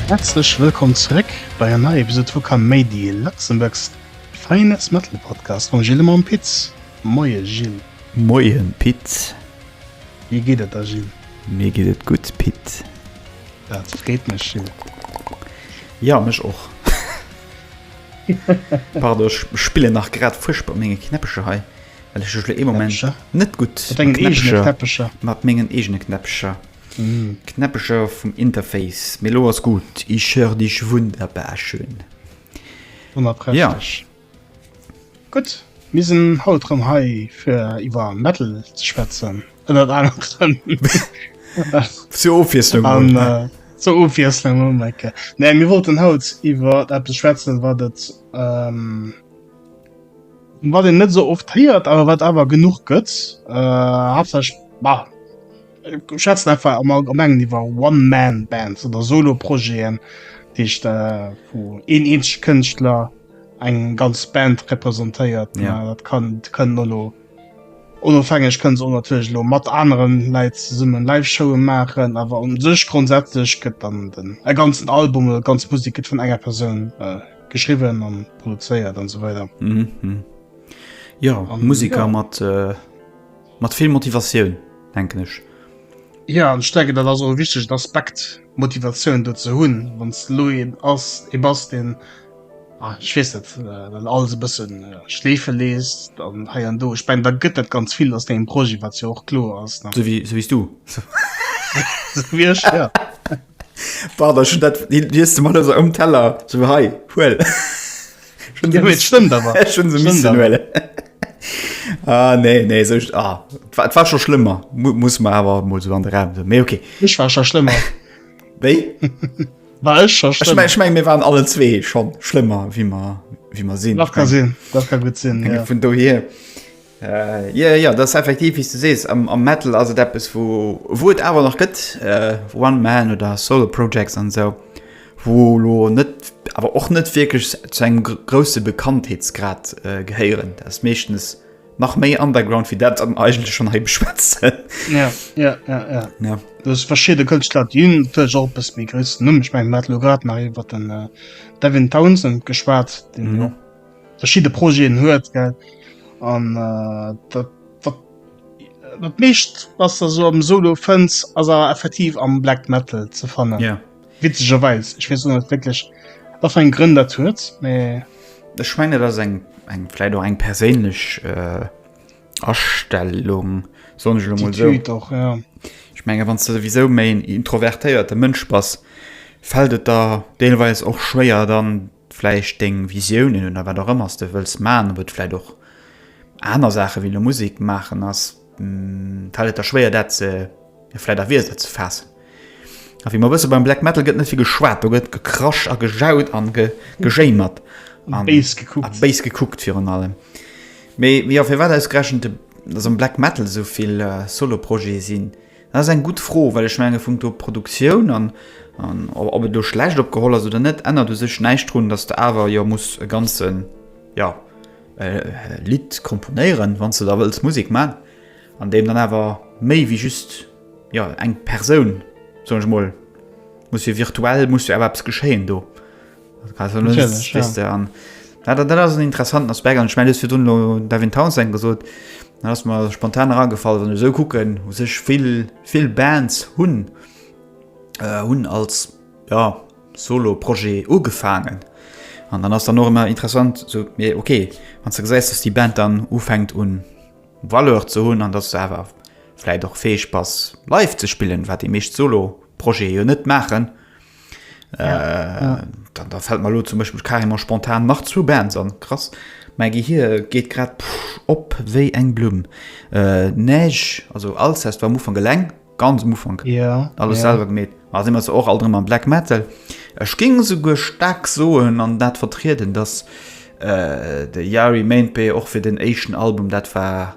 Häerzlech wëllkomm zeréck bei enger neier Episode vu Come Mady, Luxembourg's finest Metal Podcast mam Gilles a mam Piz. Moie Gilles. Moien Pit. Wéi geet et der Gilles? Mir geet et gutt Pit. Dat freet mech Jill. Ja mech och. Pardon ech spillen nach grad fuerchtbar op menge Knäppecher hei, well ech ech lo ee Moment Knäppecher? net gutt Mat dengen eegene Knäppecher, Knäppecher. mat mengen eegene Knäppecher, Knäppecher vum Interface. Mee lo ass gutt, ich hör dich wunderbar schön. Ja. Wonnerprächtig. Gutt, mir sinn haut rëm hei fir iwwer Metal ze schwätzen, ënnert anerem. Zur Ofwiesslung mol. An äh, zur Ofwiesslung mol, Mike. Nee, mir wollten haut iwwer eppes schwätzen, wat et ähm, wat een net esou oft héiert, awer wat awer genuch gëtt. Äh, haaptsächlech, bah, mir schwätzen einfach am Allgemengen iwwer One-Man-Bands oder Solo-Projeten, dat heescht äh, wou een eenzege Kënschtler, eng ganz Band representéiert dat kann kënnen nolo onofhängeg kënnt on natierlech lo mat aneren Läit summen Live-Showen maachen, awer un sech grondsätzlech gëtt dann den e ganzen Album oder ganz Musik gëtt vun enger Persoun äh, geschriwwen an produzéiert an sou weider. Mhm, mhm. Ja, an Musiker ja. mat äh, mat vill Motivatioun denken ech. Ja an stecke dat ass o wichtegt Aspekt Motivatioun do ze hunn, wann s Louis ass e bass den Ah, ech weess net, wann alles e bësse schleefe leesst an hei an do, ech mengen, da gëtt dat ganz vill aus dengem Projet, wat jo och kloer ass, ne? Sou wéi, sou wéi s du. Sou wéi ech, jo. Pardon, ech hunn dat, deen liest de mol esou ëm Teller, sou, hei, huel. Jo, mee et stëmmt awer. Ech hunn se missen huelen. Ah, nee, nee, sou, ah, et war scho schlëmmer, muss mer awer emol esou an de Raum soen, mee okay. Ech war scho schlëmmer. Wéi? Ech meng mir waren alle zwee schon schlëmmer wie man wie man sinn nach kann sinn dat kann gut sinn ja. vun do hier äh, ja ja das effektiv wie du sees am, am metal as dat bis wo wo et awer nach gëtt äh, one man oder solo projects an so wo lo net awer och net wirklich zu engem grosse bekanntheetsgrad äh, gehéieren das meeschtens nach méi underground wie dat am eigentlich schon he beschwätzen ja, ja, ja, ja. ja. das verschiedene Künstler dienen bis mir größten Numm ich mein Matlograt nach über den äh, Devin Townsend geschwar den mhm. verschiedene Projekten hört gell an äh, dat dat mischt was der so am solo fënns as er effektiv am black metal ze fannen ja Witzegerweis, ech weess net wierklech wat fir eng Grënn dat huet, mee. Ech mengen dat ass eng eng vläit och eng perséinlech Astellung, soen ech elo mol esou. Attitude och, jo. Ech mengen, wann s de souwisou méi en introvertéierte Mënsch bass, fält et der deelweis och schwéier dann. vläicht deng Visiounen oder wat och ëmmer s de wëlls maachen, ob et vläicht och aner Saache wéi elo Musek maachen ass, fält et der schwéier dat ze, jo vläicht a Wierder ze faassen. A wéi mer wësse beim Black Metal gëtt net vill geschwat, do gëtt gekrasch a gejaut a gejéimert a béis gekuckt virun allem. Mee jo, firwat ausgerechent, datt am Black Metal esou vill Solo-Projete sinn? Dat ass eng gutt Fro, well ech menge punkto Produktioun an ob et elo schlecht opgeholl ass oder net, ännert u sech näischt drun, datt s de awer jo muss e ganze jo Lidd komponéieren, wann s de da wëlls Musek man, an deem dann awer méi wéi just jo eng Persoun, soen ech emol, muss jo virtuell muss jo awer eppes geschéien do. Also, das ist, das ist, an, ja, das, das ist ein interessanten Aspekt. Und ich meine, das für Dunlo Devin Townsend gesagt, dann ist mir spontan herangefallen, wenn ich so gucken, wo sich viel, viel Bands hun, äh, hun als, ja, Solo-Projekt angefangen. Und dann ist dann auch immer interessant, so, ja, okay, wenn du siehst, dass die Band dann anfängt und Valeur zu hun, und dass du aber vielleicht auch fähig bist, live zu spielen, was die meisten Solo-Projekte ja nicht machen, Äh, ja. dann, da fällt mal lo zum Beispiel carrément spontan nach zu Bands an krass mein Gehir geht grad pff, op wéi eng Blumm äh, Neige also alles heißt war Mu van Geleng ganz Mu van ja, alles ja. selber gemet also immer so auch all drin am Black Metal Ech ging sogar stark soen an dat vertreten dass äh, de Yari Mainpay och fir den Asian Album dat war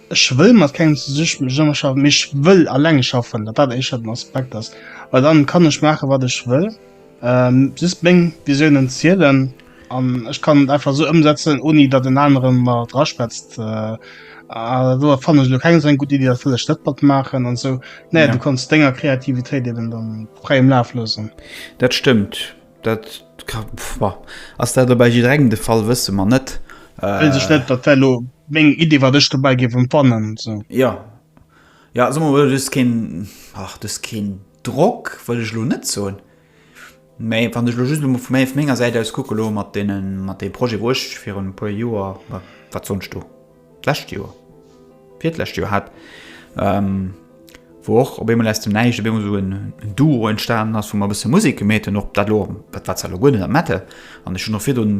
Ech wëll mat kengem zesummeschaffen, mee ech wëll alleng schaffen, datt dat éischter den Aspekt ass, well dann kann ech maachen, wat ech wëll, just meng Visiounen zielen an ech kann et einfach esou ëmsetzen, ouni datt en aneren mer draschwätzt, do fannen ech elo keng esou eng gutt Iddi, dat wëll ech net matmaachen an esou. Nee, du kanns denger Kreativitéit eben dann fräiem Laf loossen. Dat stëmmt. Dat ka, pff, ass dat elo bei jidderengem de Fall, wësse mer net. Wéils ech net, dat wär elo meng Iddi, wat ech dobäi géif emfannen, sou. Jo. Jo, soe mer mol, du hues keen, ach, du hues keen Drock, wëll ech elo net soen, mä wann ech elo just emol vu menger Säit aus kucke lo mat deenen, mat deem Projet, wou ech virun e puer Joer, wat sonnst do? d'lescht Joer, virtdlescht Joer hat, ähm, wou och op eemol aus dem Näischt op eemol so en Duo entstanen ass, wou mer e bësse Musek gemeet hunn, ob dat elo, dat war zwar elo guer net am Metal, an ech hunn och virdrun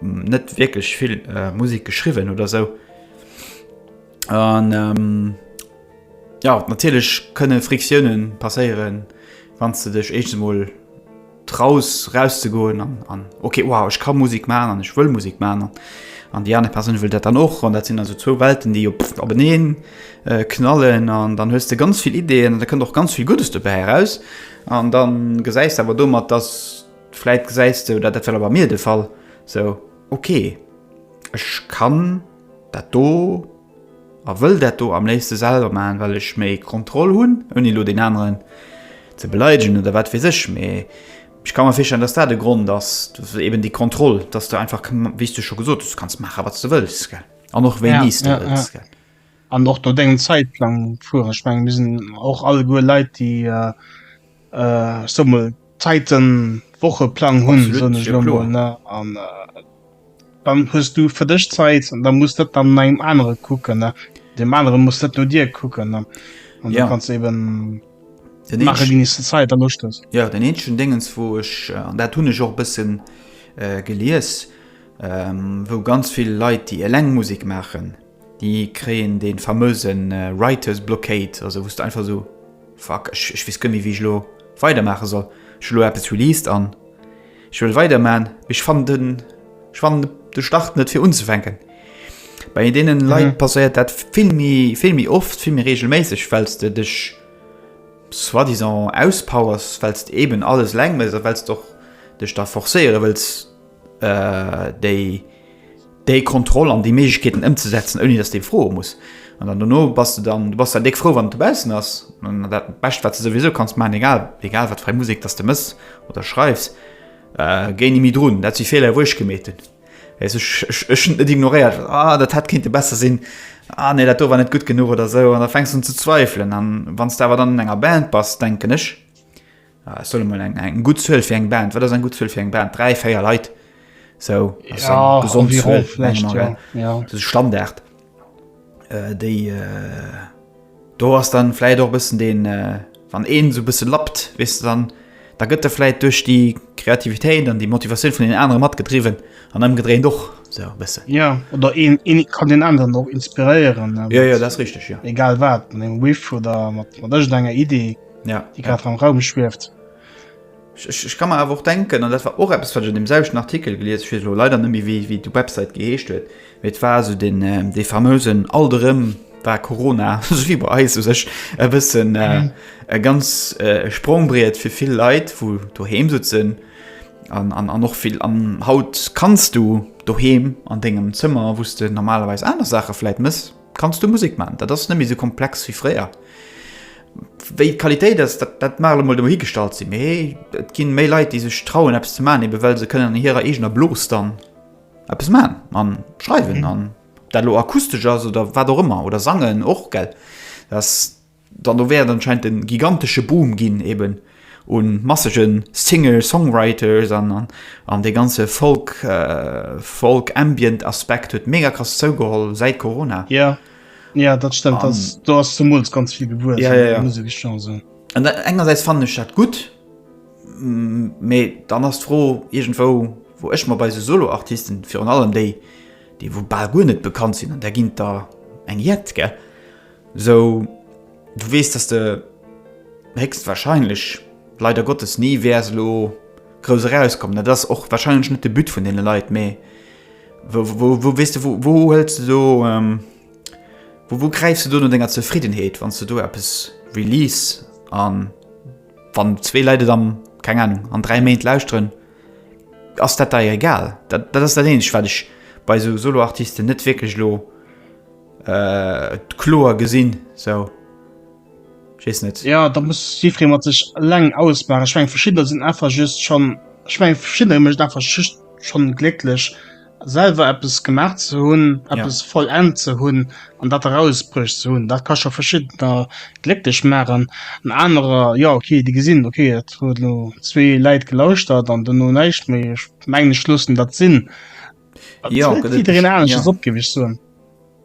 net wierklech vill Musek geschriwwen oder esou. An, ähm, jo, natierlech kënne Frictiounen passéieren, wann s de dech éischtens emol, traus raus ze goen an an okay wow ech kann Musik man an ech wëll Musik man an an die aner Persoun wëll dat dann och an dat sinn also zwou Welten déi op op beneen äh, knallen an dann hues de ganz vill Ideen an da kënnt och ganz vill Guddes dobäi heraus an dann gesäis awer domat dass vläit gesäis du dat dat well awer mir de Fall so okay ech kann dat do A wëll dat do am léifste selwer maachen, well ech méi Kontroll hunn, ouni elo deen aneren ze beleidegen oder wat weess ech. Mee ech ka mer virstellen, dass dat e Grond ass, eben déi Kontroll, dass de einfach, wéi s de scho gesot hues, du kanns maache wat s de wëlls an och wéini s de wëlls. An och no dengem Zäitplang fueren. Ech menge mir sinn och alleguer Leit, déi. Äh, ech soe mol, Zäiten, Wocheplang hunn, soen ech elo mol, ne? An dann hues du fir dech Zäit an da muss dat dann no engem anere kucken, ne? Deem anere muss dat no dir kucken, ne? An da kanns de eben maache wéini s de Zäit a Loscht hues. Jo, den eenzegen Déngens, wou ech, an dat hunn ech och e bësse gelies, wou ganz vill Leit, déi eleng Musek maachen, Déi kréien dee famöse Writer's Blockade, also wou s de einfach esou, Fuck, ech weess guer méi wéi ech elo weidermaache soll. Ech hu elo eppes released an ech wëll weiderman, mee ech fannen den, ech fannen de Start net fir unzefänken. Bei deene Leit passéiert dat vill méi, vill méi oft, vill méi regelméisseg, well s de dech soit disant auspowers, well s de eben alles eleng méchs a well s de och dech da forcéiere wëlls déi, déi Kontroll an déi Méiglechkeeten ëmzesetzen, ouni dass d'ee froe muss. An dann dono bass de dann, du bass dann déck frou, wann et dobaussen ass. An dat Bescht, wat de souwisou kanns maachen, egal, egal wat fir eng Musek dass de méchs oder schreifs, géi ni méi drun. Dat si Feeler, wou ech gemeet hunn, weess ech, ech, ech hunn et net ignoréiert, ah, dat hätt kéinte besser sinn, ah nee, dat do war net gutt genuch oder esou. An da fänks de un ze zweifelen. An wann s de awer dann an enger Band bass, denken ech, Ah, ech soll emol eng, eng gutt Zuel fir eng Band. Wat ass eng gutt Zuel fir eng Band? Dräi, véier Leit. Sou, ass eng Ja, gesond environ Zuel, mengen vläicht, mer, ja. gell? ja. Dat ass e Standard. Äh, déi, äh, do ass dann vläicht och e bëssen deen, äh, wann een esou e bësse lappt, weess de, dann, da gëtt e vläicht duerch déi Kreativitéit an déi Motivatioun vun deenen anere matgedriwwen an ëmgedréint och esou e bësse. Ja, oder een, een kann deen aneren och inspiréieren, äh, Ja, ja, dat ass richteg, ja. egal wat, mat engem Riff oder mat, mat ëschtenger Idee. ja, déi grad am Raum schwieft. Ech, ech kann mer awer och denken, an dat war och eppes, wat ech an dem selwechten Artikel gelies, ech weess elo leider net méi, wéi, wéi d'Website geheescht huet, mee et war esou den, ähm, dee fameusen alt erëm war Corona, esou wéi bei eis, u sech e bëssen äh, mhm. e ganz äh, Sprongbriet fir vill Leit, wou doheem sutzen an, an, an och vill an haut kanns du doheem an dengem Zëmmer, wouste normalerweis aner Sache vläit mëss, Kanns du Musek man? Dat ass net méi sou komplex wéi fréier. Wéi d'Qualitéit ass, dat dat mag emol dohi gestallt sinn, mee et gi méi Leit, déi sech trauen eppes ze man, ebe well se kënnen an hirer eegener Blos dann eppes man a schreiwen. An ob dat elo akustesch ass oder wat och ëmmer, oder sangen och, gell, dat ass. Dann do wär et anscheinend e gigantesche Boom ginn eben u massege Singer-Songwriters an dee ganze Folk, Folk Ambient Aspekt huet mega krass zougeholl säit Corona. Jo, jo, dat stëmmt. An. Do ass zemools ganz vill gewuess. Jo, jo, jo. An engersäits fannen ech dat gutt, mee dann ass d'Fro iergendwou, wou ech mer bei esou Solo-Artisten, virun allem déi, déi wou bal guer net bekannt sinn, an där ginn et der eng Jett, gell, Sou, du weess, dass de héchstwahrscheinlech, leider Gottes, ni wäers elo grouss erauskommen. Dat ass och wahrscheinlech net de But vun deene Leit. Mee wou, weess de, wou, wou huels de do, wou, wou gräifs de do no denger Zefriddenheet, wann s de do eppes release a wann zwee Leit et am, keng Ahnung, an dräi Méint lauschteren, ass dat dei egal? Dat, dat ass dat Eenzegt, wat ech bei esou Solo-Artisten net wierklech elo. et kloer gesinn sou ja da muss jiddweree mat sech eleng ausmaachen. Ech meng verschiddener sinn einfach just schon ech meng verschiddener mécht einfach just schon glécklech selwer eppes gemaach ze hunn eppes ja. vollend ze hunn an dat erausbruecht ze hunn dat ka scho verschiddener glécklech maachen an anerer ja okay déi gesinn okay et huet lo zwee Läit gelauschtert an duerno näischt méi ech meng ech loossen dat sinn Ja, Gëtt et- jidderen anesches ja. opgewich soen.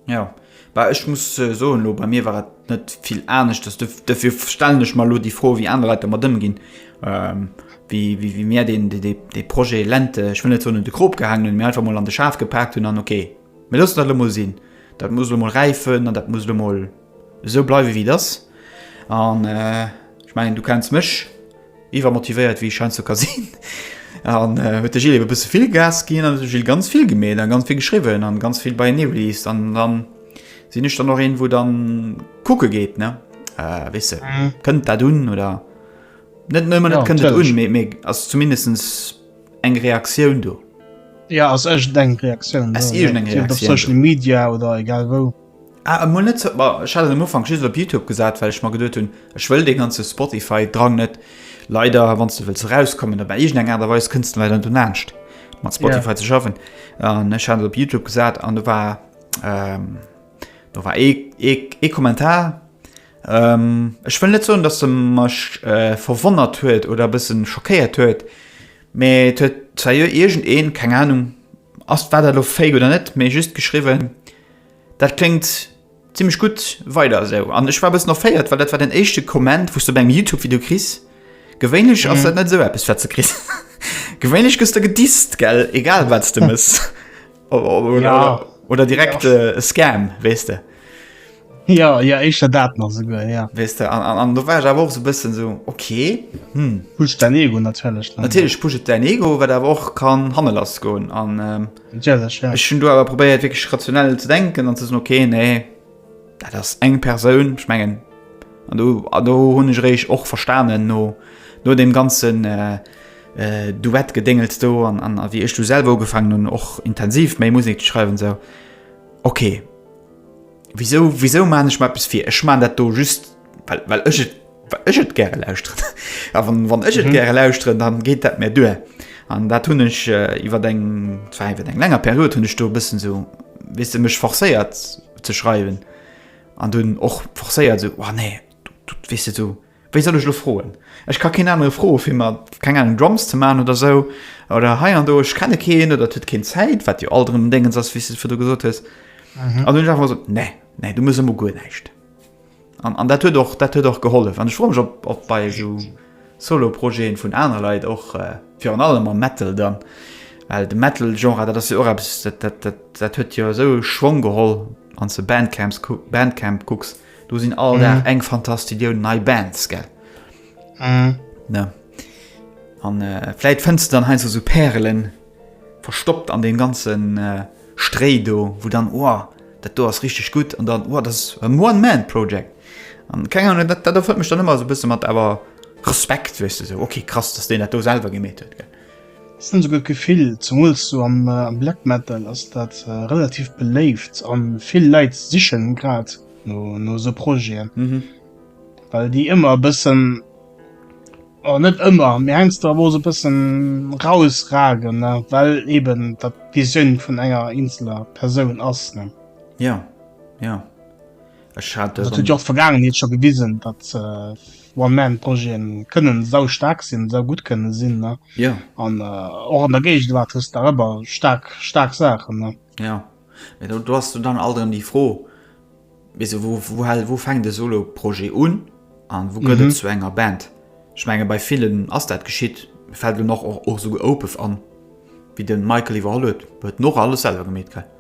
Ja, bah, ech muss äh, soen, lo, bei mir war et net vill anescht. Das def- Dafür stellen ech mal lo die Froh, wie andere Leute mat ëmginn. Ähm, wie, wie, wie mir den, de, de, de Projet Lente, ich will net so de Krop gehangen hun, mir einfach mal an de Schaf gepackt hun an okay. Mir lassen dat lo mal sinn. Dat muss lo mal reifen an dat muss lo mal so bleiwe wie das. An äh, ich meine, du kennst mech, Iwwermotivéiert wéi scheint zu ka sinn an huet de Gilles eben e bësse vill Gas ginn an huet de Gilles ganz vill gemeet an ganz vill geschriwwen an ganz vill beienee released an dann sinn ech dann och een wou dann kucke geet ne weess de kënnt dat un oder net nëmmen net kënnt dat un mee mee ass zumindestens eng Reaktioun do. Ja ass iergendeng Reaktioun do, ob op Social Media oder egal wou. Ah emol net sou, bon ech hat en am Ufank just op Youtube gesat well ech mer geduet hunn ech wëll dee ganze Spotify Drang net leider wanns de wëlls erauskommen op iergend eng Aart a Weis kënns de leider net un laanscht mat Spotify ze schaffen an ech hat et op Youtube gesat an do war do war ee ee Kommentar ech wëll net soen datt e mech verwonnert huet oder e bëssen schockéiert huet mee et huet zejoert iergend een keng Ahnung ass war dat elo fake oder net mee just geschriwwen, Dat kléngt zimlech gutt, weider esou. An ech war e bëssen erféiert, well dat war den éischte Komment, wou s de bei engem Youtube-Video kriss. Gewéinlech ass dat net esou eppes, wat s de kriss. Gewéinlech gëss de gedisst, gell, egal wat s de mëss. Oder direkt e Scam, weess de. Jo, jo, éischter dat nach esouguer, jo. Weess de, an do war ech awer och esou e bëssen esou, ok, hm. Pusht däin Ego natierlech. Natierlech pusht et däin Ego, wat awer och kann hanne lass goen. Natierlech, ja. Ech hunn do awer probéiert, wierklech rationell ze denken an ze soen, Okay, nee, dat ass eng Persoun. Ech mengen, an do, an do hunn ech eréischt och verstanen, no, no deem ganzen Duett-Gedéngels do an, an wéi ech du selwer ugefaangen hunn, och intensiv méi Musek ze schreiwen, esou, Okay. Wisou, wisou maan ech mer eppes vir? Ech maan dat do just well, well ech et, well ech et gäre lauschteren. A wann, wann ech et gäre lauschteren, dann geet dat mär duer. An dat hunn ech iwwert eng, zwar iwwert eng länger Period hunn ech do e bëssen esou, weess de, mech forcéiert ze schreiwen an dunn och forcéiert esou, oh nee, du, du, weess de, du, Wéi soll ech lo froen? Ech ka keen anere froe fir mer, keng Ahnung, Drums ze maachen oder sou. Oder hei an do, ech kenne keen oder et huet keen Zäit, wat jo alt erëm en Déngens ass, wéi s de et virdru gesot hues. An dunn hunn ech einfach mal gesot, nee, nee, du muss ëmmer guer näischt. An, an dat huet och, dat huet och gehollef. An ech froe mech, ob, ob bei esou Solo-Projete vun anere Leit och, virun allem am Metal dann, well de Metal-Genre, dat ass jo och eppes, dat, dat, dat, dat huet jo esou e Schwong geholl, wann s de Bandcamps, Bandcamp kucks. Do sinn all Dag eng Fantastillioun nei Bands, gell? Ne? An äh, vläit fënns du dann heinz esou Pärelen verstoppt an deem ganzen äh, Stréi do, wou dann, oh, dat do ass richtig gut an dann, oh, das ass en One-Man-Project. An keng Ahnung, dat, dat erfëllt mech dann ëmmer esou e bësse mat awer Respekt, weess du, esou, okay, krass, dass deen dat do selwer gemeet huet, gell? Ech hunn esouguer d'Gefill, zemools sou am Black Metal ass dat relativ beléift a vill Leit sichen grad no esou Projeten, well déi ëmmer e bëssen, oder net ëmmer, mee heiansdo awer och esou e bëssen rausragen, well eeben dat d'Visioun vun enger eenzeler Persoun ass. Jo, jo. Ech hat dat huet jo och d'Vergaangenheet scho gewisen, datt One-Man-Projeten kënne sau staark sinn, sau gutt kënne sinn ne ja. an och an der Géigewaart hues de awer staark staark Saachen ne ja. Mee do ass du dann alt erëm déi Fro wéi wou wou hal wou fänkt de Solo-Projet un an wou gëtt mhm. zu enger Band schmenge bei villen ass dat geschitt fält du noch och och souge Opef an wéi den Michael iwwerholl huet huet noch alles selwer gemet kräit.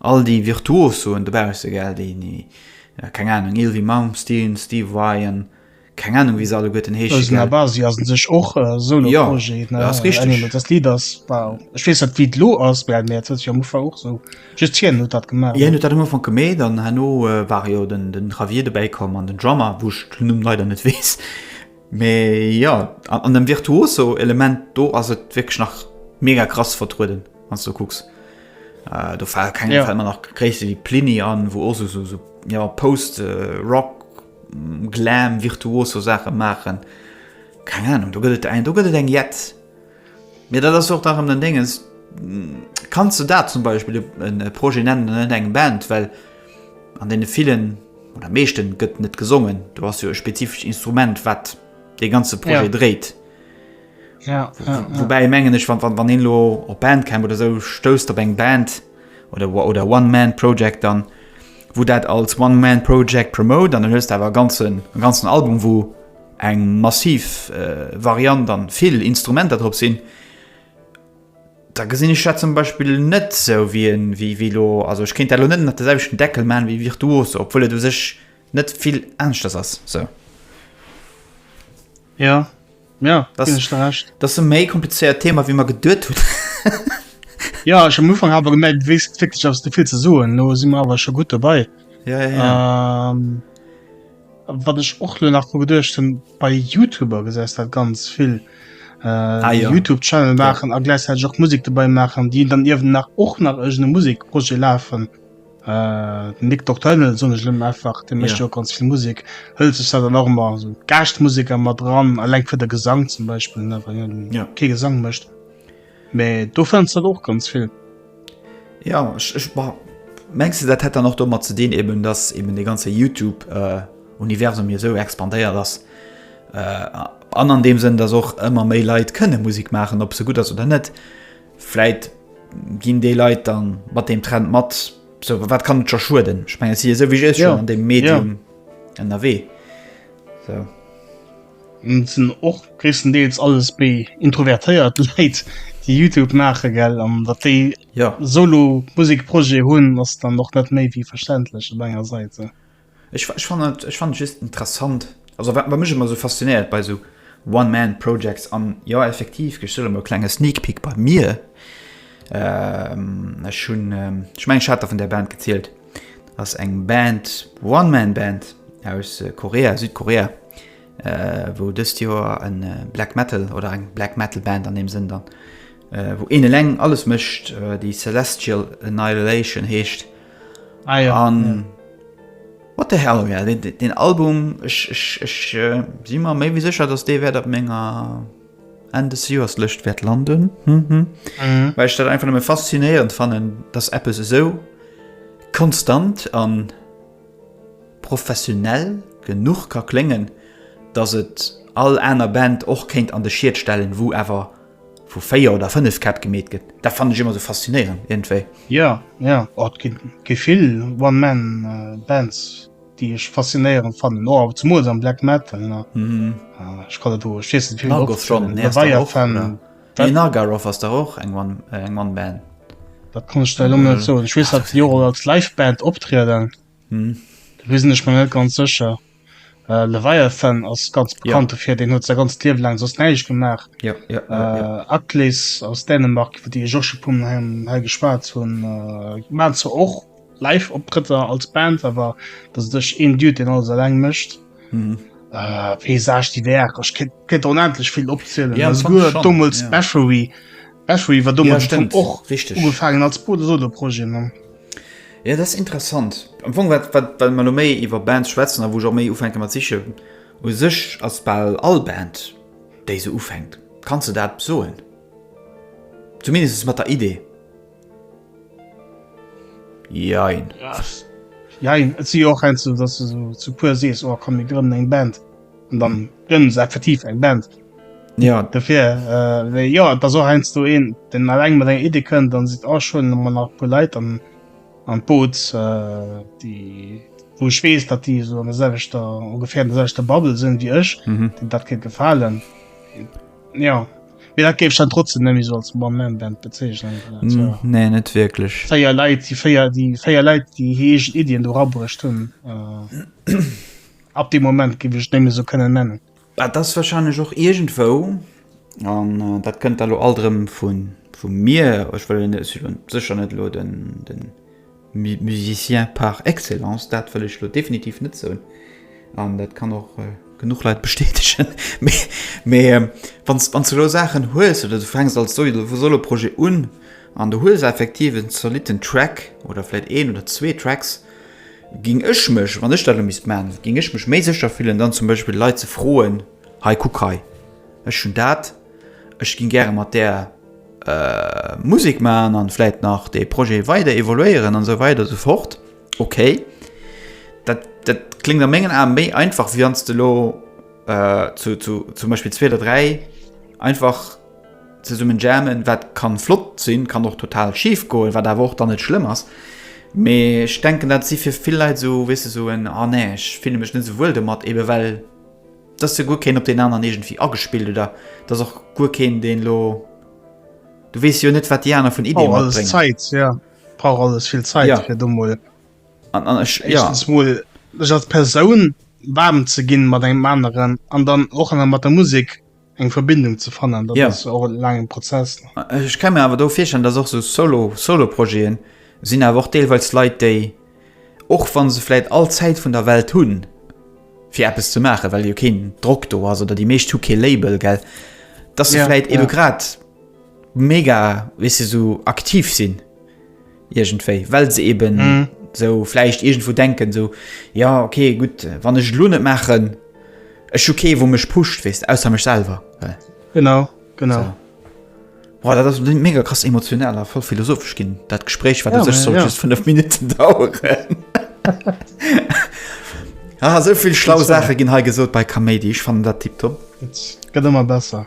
All déi Virtuosoen dobausse, gell, déi, déi, keng Ahnung, Yngwie Malmsteen, Steve Vai an keng Ahnung, wéi se alleguerten heesche, gell. Eisen Abasi ass un sech och e Solo-Projet, ne? Jo, dat ass richteg. Anyway, dat Lidd ass, wow, ech weess net, wéi et elo ass, mä dat huet sech am Ufank och esou, just hien huet dat gemaach, ne? Hien huet dat am Ufank gemeet an herno war jo den, den Javier dobäi komm an den Drummer, wou ech den Numm leider net weess. Mä jo, an, an dem Virtuoso-Element do ass et wierklech nach mega krass vertrueden, wann s de kucks. Äh, do fal keng Ja. fällt mir nach Gréisste wéi Plini an, wou och so, so, so ja, Post, äh, Rock, mm, Glam, virtuoso Saache maachen. Keng Ahnung, do gëtt et eng, do gëtt et eng Jetz. Mir dat ass och nach ëm den Dingens. mm, Kannst du dat zum Beispiel e- en e Projet nennen, net eng Band, well an deene villen oder meeschte gëtt net gesongen. Du hast jo e spezifescht Instrument, wat dee ganze Projet Ja. dréit. Ja, ja, ja. Woubäi mengen ech wann, wann, wann een lo op Bandcamp oder sou stousst op eng Band oder wa- oder One Man Project dann wou dat als One Man Project promote an dann hues awer ganzen en ganzen Album wou eng massiv äh, Variant an vill Instrumenter drop sinn da gesinn ech dat zum Beispiel net sou wie en wie wie lo also ech kéint dat lo net nach de selwechten Deckel man wie Virtuose obwuel et u sech net vill aneschters ass sou. Ja, Ja, das, das ist ein mehr kompliziertes Thema, wie man gedacht hat. ja, ich habe am Anfang aber gemerkt, du weißt wirklich, dass du viel zu sagen Nun sind wir aber schon gut dabei. Ja, ja, ja. Ähm, was ich auch nur nach gedacht habe, bei YouTuber gesagt hat, ganz viel. Äh, ah, ja. YouTube-Channel machen ja. und gleichzeitig auch Musik dabei machen, die dann eben nach, auch nach irgendeine Musikprojekt laufen. Den Nick Nocturnal soen ech elo einfach, dee mécht jo och ganz vill Musek, hëlt sech dat dann och ëmmer esou Gaaschtmuseker mat eran, eleng fir de Gesang zum Beispill, ne, well hien kee Gesang mécht. Mä do fënns de dat och ganz vill. Jo, ech, ech, bon, mengs de, dat hätt dann och domat ze dinn eben, datt eben dee ganze Youtube-Universum jo esou expandéiert ass an an deem Sënn, datt och ëmmer méi Leit kënne Musek maachen, ob se gutt ass oder net. Vläit ginn déi Leit dann mat deem Trend mat, sou wat kann et scho schueden? Ech mengen et si jo souwisou schon ja. an deem Medium ja. ënnerwee. So. Et sinn och gréisstendeels alles méi introvertéiert Leit, déi Youtube maache gell an dat déi ja. solo Musikprojet hunn ass dann noch net méi wéi verständlech op enger Säite. Ech, ech fannen et, ech fannen et just interessant, also wat, wat mech ëmmer esou faszinéiert bei esou One-Man-Projects, an jo, effektiv, gëscht Owend e klenge Sneak Peek bei mir, ech hunn, ech mengen, ech hat der vun där Band gezielt, ass eng Band, One-Man-Band aus Korea, Südkorea, wou dëst Joer e Black Metal, oder eng Black Metal Band an deem Sënn dann, wou een eleng alles mécht, déi Celestial Annihilation heescht. Ah ja, an ja. What the hell, ja, den, den Album, ech, ech, ech äh, si mer méi wie sécher, dass dee wäert op menger Enn des Joers Lëscht wäert landen. Hm, hm. Mhm. Well ech dat einfach nëmme faszinéierend fannen, dass Apps esou konstant an professionell genug ka kléngen, dass et all aner Band och kéint an de Schiet stellen, wou awer Vu 4 oder 5 Käpp gemeet gëtt. Dat fannen ech ëmmer esou faszinéierend iergendwéi. Jo, jo, oh et ginn gi vill One Man Bands déi ech faszinéierend fannen, oh awer zemools am Black Metal ne, ech kann et, ech weess net wéi vill mol opgezählt, Leviathan, nee Naggaroth ass dach och eng One One Band. Dat kann ech der elo net soen, ech weess dat se jo och als Live Band optrieden, do sinn ech mer net ganz sécher. Äh, Leviathan ass ganz bekannt dofir, deen huet säi ganzt Liewe laang soss näischt gemaach. Ja, ja, ja, ja. Äh, Atlas aus Dänemark, iwwer déi ech och scho pum hei, hei geschwat hunn, äh, waren zwar och Live-Optrëtter als Band, awer dat ass duerch een Dude, deen alles eleng mécht. Mhm. Äh, Paysage divers, ech kéint, kéint onendlech vill opzielen. Ja, Also sogar schon, damals ja. Bathory. Bathory war damals Ja, schon stimmt, och richtig. ugefaangen als Bruder Solo-Projet, ne? Jo, dat ass interessant. Am Fong, wat, wat, wat mer elo méi iwwer Bands schwätzen a wou ech och méi ufänke mat sichen, u sech ass bal all Band, déi esou ufänkt, kanns de dat soen, zumindest mat der Idee, jein. Jein, et si jo och heiansdo, datt s de esou zu puer sees, oh komm, mir grënnen eng Band. an dann gënn se effektiv eng Band. Ja dofir äh, ja da so heinsst du een den alleng mat eng Idee kënnt, dann si a schon man nach pu Leiit an an Boot äh, déi wo ech wees, dat déi so an der selwechter ongefähr an der selwechter Bubble sinn wéi ech, mhm. den dat kéint gefalen. Ja Wie dat géif dann trotzdem nemmi so als One Man Band bezeichnen. Mm, nee net wirklich. Féier Leiit die Féier die Féier Leiit die heegen Ideen do rabruecht hunn. Äh. Ab dem Moment giff ech et némme sou kënnen nennen. Dat ass wahrscheinlech och iergendwou, an dat kënnt da lo alt erëm vu mir, ech wëll elo sécher net elo den Musicien par excellence, dat wëll ech elo definitiv net soen, an dat kann och genuch Leit bestätegen, mee wann s de elo Saachen hues oder du fänks als Soloprojet un an du hues effektiv en zolitten Track oder vläicht een oder zwee Tracks, Géing ech mech, wann ech dat elo misst maachen, géing ech mech méi sécher fillen, dann zum Beispill Leit ze froen, Hei, kuck hei, ech hunn dat, ech géing gäre mat där Musek maachen an vläit nach dee Projet weider evoluéieren an esou weider esou fort. Okay, dat dat kléngt a mengen Ae méi einfach, wéi wann s de elo zu zum Beispill zwee oder dräi einfach, Zesummen jammen, wat kann flott sinn, kann och total schif goen, wat awer och dann net schlëmm ass. Mee ech denken dat si fir vill Leit sou, weess de, sou en ah nee ech fille mech net sou wuel domat, eben well dass jo guer keen op deen aneren iergendwéi agespillt oder dass och guer keen deen lo, du weess jo net wat déi aner vun Iddie matbréngen. Brauch alles Zäit, jo brauch alles vill Zäit fir do mol éischtens mol sech als Persoun waarm ze ginn mat engem aneren an dann och nach mat der Musek eng Verbindung ze fannen dat ja. och en langen Prozess. Äh, ech kann mir awer do virstellen, dass och so solo Soloprojeten sinn awer och deelweils Leiit déi och wann se vielleicht all Zäit vun der Welt hunn fir Apps ze machen, well jo keen Drock do ass oder die meescht hu kee Label gell, dass se ja, vielleicht ja. eben grad mega wisse weißt du, so aktiv sinn Irgendwéi, well se eben mm. so vläicht irgendwo denken, so ja, okay, gut, wann ech lo net maachen, ech okay, wo mech pusht, wees, ausser mech selber. Well. Genau, genau. So. Boah, dat ass mega krass emotional a voll philosophesch ginn. Dat Gespräch wat ja, sech soll ja. just 5 Minuten daueren. ah, sovill schlau Sache ginn hei gesot bei Kaméidi, ich fan dat Tipp top. Gëtt immer besser.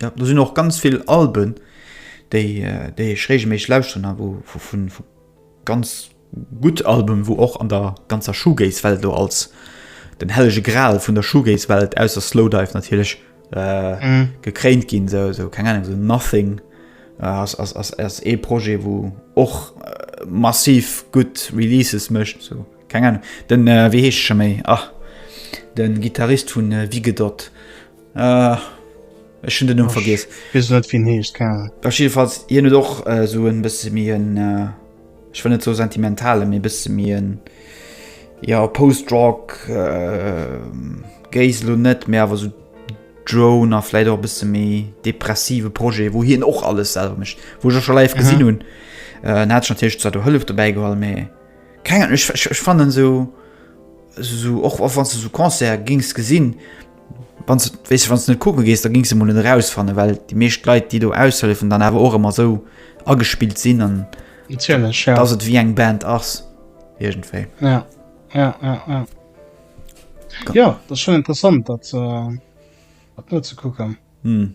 Ja, do sinn och ganz vill Alben, déi, déi ech regelméisseg lauschteren a wou, vu, vu, vu ganz gutt Alben, wou och an der ganzer Shoegaze-Welt elo als den hellege Gral vun der Shoegaze-Welt, ausser Slowdive natierlech, gekréint ginn. Sou, sou, keng Ahnung, sou Nothing ass, ass, ass, ass ee Projet, wou och massiv gutt Releases mécht. Sou, keng Ahnung, den, wéi heescht scho méi, ah, den Gittarist vun Vigedot. Ah, ech hun den Numm vergiess. Wees net wien heescht Karl. Ech jedenfalls hien huet och äh, so en bësse méi en äh, ech wëll net so sentimentale méi bësse méi en ja Postrock äh, Géis lo net mé awer so Drone a fläit och bësse méi depressive Projet wou hien och alles selwer mecht wou ech schon live gesinn hunn äh, hat ech natierlech zwar do Hëllef dobäi geholl mé keng ech, ech, ech fannen so so och wann du so Concert gings gesinn Wann du, weißt du, wann du net kucke gees, da gings du mol net erausfannen, well déi meescht Leit, déi do aushëllefen, dann awer och ëmmer esou agespillt sinn an Natierlech, ja. dass et wéi eng Band ass. Iergendwéi. Ja, ja, ja, ja. Ka- Ja, dat ass schon interessant, dat äh, dat nozukucken. Hm.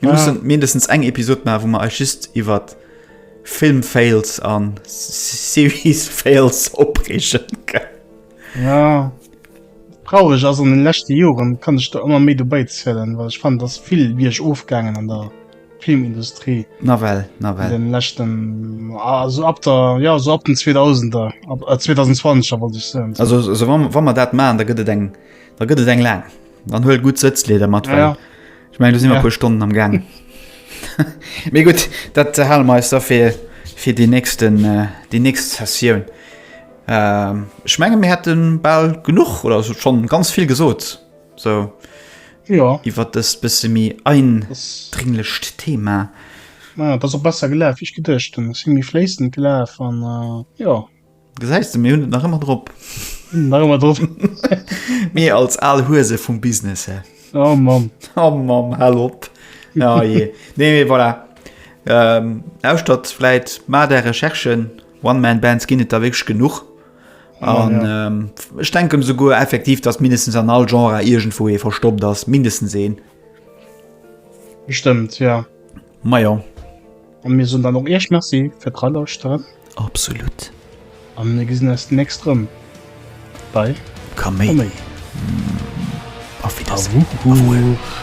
Mir ja. mussen mindestens eng Episode machen, wo man euch just über Film fails an Series fails opregen kann. Ja traurig also in den letzten Jahren kann ich da immer mehr dabei zählen, weil ich fand das viel wie ich aufgegangen an der Filmindustrie na well, na well. den letzten ah, so ab der ja so ab den 2000er ab, äh, 2020 wollte ich sagen. Also so, wann, wann man dat machen, da gëtt et eng da gëtt et eng lang. Dann huel gut Sëtzleder mat. Ja, ja. Ich mein, du si ja. puer Stonnen am Gang. Mé gut, dat ze Hallmeister fir fir die nächsten äh, die nächst Sessioun. Ähm, ich menge mir hätten ball genug oder so schon ganz viel gesot so ja wie wat das bis mi ein dringlichcht thema ja, das auch besser gelaf ich gedcht sind die flessen gelaf an äh, ja Gesäis de, mir hunn et nach ëmmer drop. Nach ëmmer drop. Mir als al Huese vum Business her. Oh Mann. Oh Mann, hal op. Ja, oh je. Nee, nee, voilà. Ähm, Ausstatt vläit ma der Recherchen, One-Man-Bands ginn et da wéch genuch. An ja, ja. ähm, ech denken souguer effektiv, datt mindestens an all Genre iergendwou ee verstoppt ass, mindestens een. Bestimmt, ja. Ma ja. An mir soen dann och iech Merci fir d'Relauschteren. Absolut. A mir gesinn eis d'nächst erëm bei Kaméidi. Auf Wiedersehen. Awuuch.